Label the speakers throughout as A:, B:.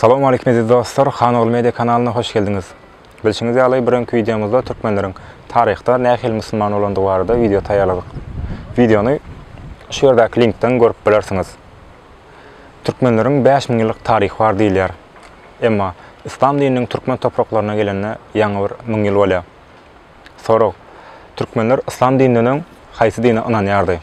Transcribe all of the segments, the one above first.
A: Salam aleýkum eziz dostlar, Hanogly Media kanalyna hoş geldiňiz. Bilşiňiz ýaly, bir öňki wideomyzda türkmenleriň taryhda nähili musulman bolandygy barada wideo taýýarladyk. Wideony şu ýerdäki linkden görüp bilersiňiz. Türkmenleriň bäş müň ýyllyk taryhy bar diýilýär. Emma yslam dininiň türkmen topraklaryna gelende ýaňy bir müň ýyl bolýar. Sorag, Türkmenler yslam dininden öň haýsy dine ynanýardy?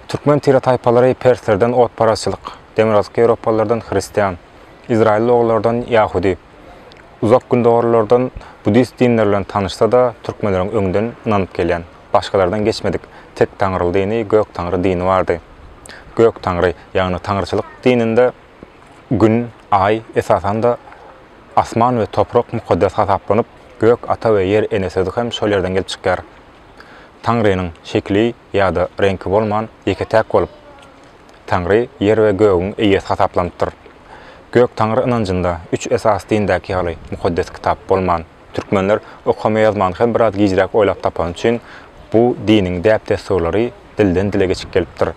A: Türkmen tire-taýpalary perslerden otparazçylyk, demirgazyk ýewropalylardan hristian, izraýylly ogullardan ýahudy, uzak gündogarlylardan buddist dinleri bilen tanyşsa-da, türkmenleriň öňden ynanyp gelýän, başgalardan geçmedik tektaňryly dini Göktaňry dini bardy. Göktaňry, ýagny taňryçylyk dininde, Gün, Aý, esasan-da, asman we toprak mukaddes hasaplanyp, gök ata we ýer ene sözi hem şol ýerden gelip çykýar. Taňrynyň şekili ýa-da reňki bolman, ýeke-täk bolup, Taňry ýer we gögüň eýesi hasaplanypdyr. Gök-Taňry ynanjynda üç esasy dindäki ýaly mukaddes kitap bolman, türkmenler okama-ýazmany hem biraz gijräk oýlap tapany üçin bu diniň däp-dessurlary dilden-dile geçip gelipdir.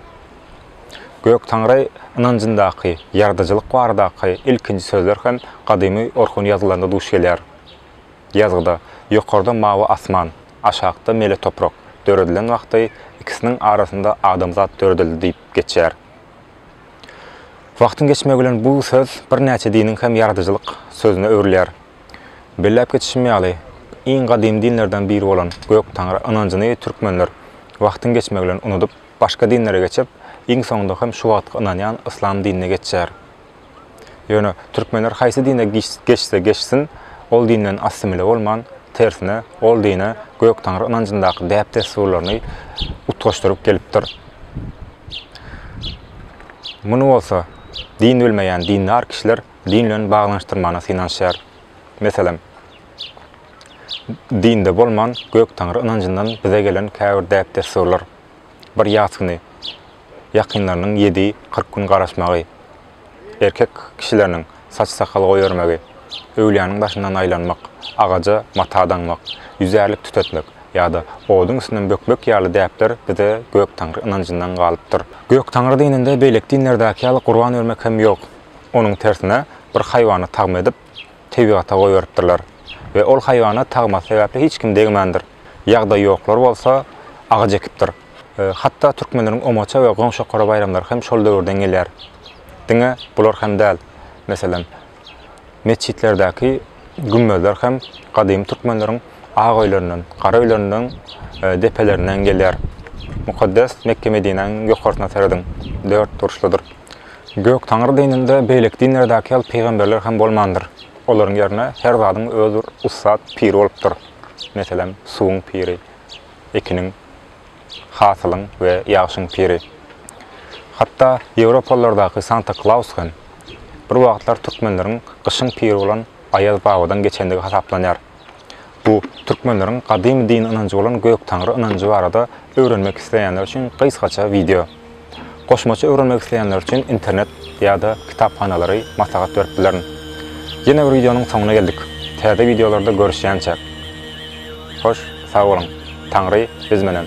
A: Göktaňry ynanjyndaky ýaradyjylyk baradaky ilkinji sözler hem gadymy orhun ýazylarynda duş gelýär. Ýazgyda ýokarda mawy asman, aşakda mele toprak döredilen wagty ikisiniň arasynda adamzat döredildi diýip geçýär. Wagtyň geçmegi bilen bu söz birnäçe diniň hem ýaradyjylyk sözüne öwrülýär. Belläp geçişim ýaly, iň gadymy dinlerden biri bolan Göktaňry ynanjyny türkmenler wagtyň geçmegi bilen unudyp, Başga dinlere geçip, iň soňunda hem şu wagtky ynanýan yslam dinine geçýär. Ýöne türkmenler haýsy dine geçse geçsin, ol dinden assimile bolman, tersine, ol dine Göktaňry ynanjyndaky däp-dessurlaryny utgaşdyryp gelipdir. Muny bolsa, din bilmeýän dindar kişiler din bilen baglanyşdyrmana synanyşýar. Meselem, dinde bolman Göktaňry ynanjyndan bize gelen käbir däp-dessurlar. bir ýas güni ýakynlarynyň ýedi, kyrk gün garaşmagy, erkek kişileriniň saç-sakal goýbermegi, öwlüýäniň başyndan aýlanmak, agaja mata daňmak, ýüzärlik tütetmek ýa-da oduň üstünden bökmek ýaly däpler bize Göktaňry ynanjyndan galypdyr. Göktaňry dininde beýleki dinlerdäki ýaly gurban bermek hem ýok. Onuň tersine, bir haýwany tagma edip, tebigata goýberipdirler we ol haýwana tagmasy sebäpli hiç kim degmändir. Ýagdaýy ýoklar bolsa agaç ekipdir. Hatda türkmenleriň omaça we goňşokara baýramlary hem şol döwürden gelýär. Diňe bular hem däl. Meselem, metjitlerdäki gümmezler hem gadymy türkmenleriň ak öýlerinden, gara öýlerinden, depelerinden gelýär. Mukaddes Mekge-Medinäniň ýokarsyna serediň, dört burçludyr. Göktaňry dininde beýleki dinlerdäki ýaly pygamberler hem bolmandyr. Olaryň ýerine her zadyň öz bir ussat piri bolupdyr. Meselem, suwuň piri, ekiniň, hasylyň we ýagşyň piri. Hatda ýewropalylardaky Santa Klaus hem, bir wagtlar türkmenleriň gyşyň piri bolan Aýaz babadan geçendigi hasaplanýar. Bu türkmenleriň gadymy din ynanjy bolan Göktaňry ynanjy barada öwrenmek isleýänler üçin gysgaça wideo. Goşmaça öwrenmek isleýänler üçin internet ýa-da kitaphanalary maslahat berip bilerin. Ýene bir wideonyň soňuna geldik. Täze wideolarda görüşýänçäk. Hoş, sag boluň. Taňry biz menen.